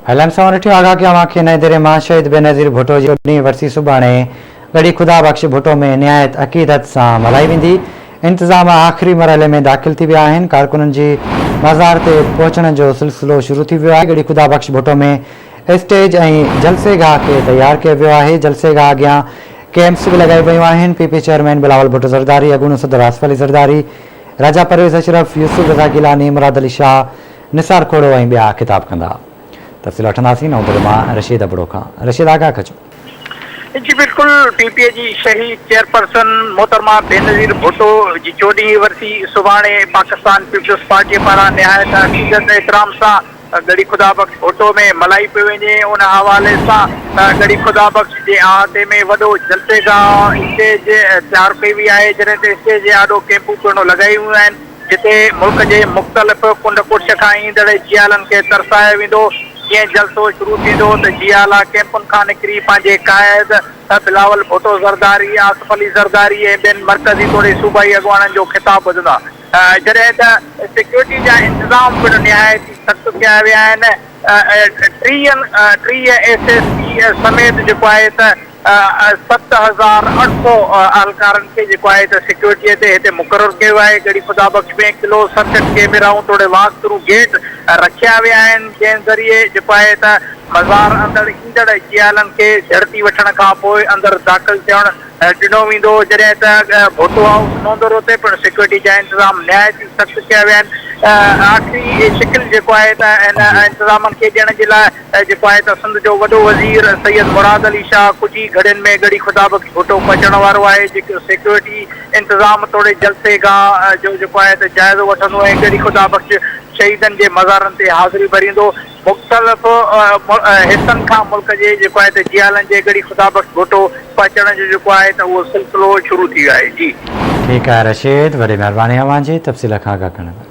هلڻ سان ڏٺيو آگاهه ڪيو اوهان کي نئين ديري مان شهيد بينظير ڀٽو جي اڏني ورسي سڀاڻي ڳڙهي خدا بخش ڀٽو ۾ نهايت عقيدت سان ملهائي ويندي انتظام آخري مرحلي ۾ داخل ٿي ويا آهن ڪارڪنن جي مزار تي پهچڻ جو سلسلو شروع ٿي ويو آهي ڳڙهي خدا بخش ڀٽو ۾ اسٽيج ۽ جلسي گاهه کي تيار ڪيو ويو آهي جلسي گاهه اڳيان ڪيمپس به لڳائي ويون آهن P P chairman Bilawal Bhutto Zardari اڳوڻو صدر آصف علي زرداري راجا پرويز اشرف يوسف رضا گيلاني مراد علي شاهه نثار کوڙو ۽ ٻيا خطاب ڪندا. تفصيل وٺنداسين اوندري مان رشيد ابڙو کان. رشيد آگاهه ڪجو. جي بلڪل پي پي اي جي شهي چيئرپرسن محترمه بينظير ڀٽو جي چوڏهينء ورسي سڀاڻي پاڪستان پيپلز پارٽيء پاران نهايت عقيدت ۽ احترام سان ڳڙهي خدا بخش ڀٽو ۾ ملهائي پئي وڃي ان حوالي سان ڳڙهي خدا بخش جي احاطي ۾ وڏو جلسه گاهه اسٽيج تيار ڪئي وئي آهي جڏهن ته اسٽيج جي آڏو ڪئمپون پڻ لڳايون ويون آهن. جتي ملڪ جي مختلف ڪنڊ ڪڙڇ کان ايندڙ جيالن کي ترسايو ويندو، جيئن جلسو شروع ٿيندو ته جيالا ڪئمپن کان نڪري پنهنجي قائد بلاول ڀٽو زرداري، آصف علي زرداري ۽ ٻين مرڪزي توڙي صوبائي اڳواڻن جو خطاب ٻڌندا، جڏهن ته سيڪيورٽي جا انتظام پڻ نهايت ئي سخت ڪيا ويا آهن، ٽيهه ايس ايس پي سميت جيڪو آهي ته. ست هزار اٺ سؤ اهلڪارن کي جيڪو آهي ته سيڪيورٽيء تي هتي مقرر ڪيو آهي. ڳڙهي خدا بخش ۾ ڪلوز سرڪٽ ڪيميرائون توڙي واڪ ٿرو گيٽ رکيا ويا آهن، جنهن ذريعي جيڪو آهي ته مزار اندڙ ايندڙ جيالن کي جهڙتي وٺڻ کان پوء اندر داخل ٿيڻ ڏنو ويندو، جڏهن ته ڀوتو هائوس نوندرو تي پڻ سيڪيورٽي جا انتظام نهايت ئي سخت ڪيا ويا آهن. آخري شڪل جيڪو آهي ته هن انتظامن کي ڏيڻ جي لاء ته جيڪو آهي ته سنڌ جو وڏو وزير سيد مراد علي شاهه ڪجهه ئي گهڙين ۾ ڳڙهي خدابخش ڀٽو پهچڻ وارو آهي جيڪو سيڪيورٽي انتظام توڙي جلسي گاهه جو جيڪو آهي ته جائزو وٺندو ۽ ڳڙهي خدابخش شهيدن جي مزارن تي حاضري ڀريندو مختلف حصن کان ملڪ جي جيڪو آهي ته جيالن جي ڳڙهي خدابخش ڀٽو پهچڻ جو جيڪو آهي ته اهو سلسلو شروع ٿي ويو آهي جي. ٺيڪ آهي رشيد وڏي مهرباني اوهان جي تفصيل کان آگاهه ڪرڻ لاء.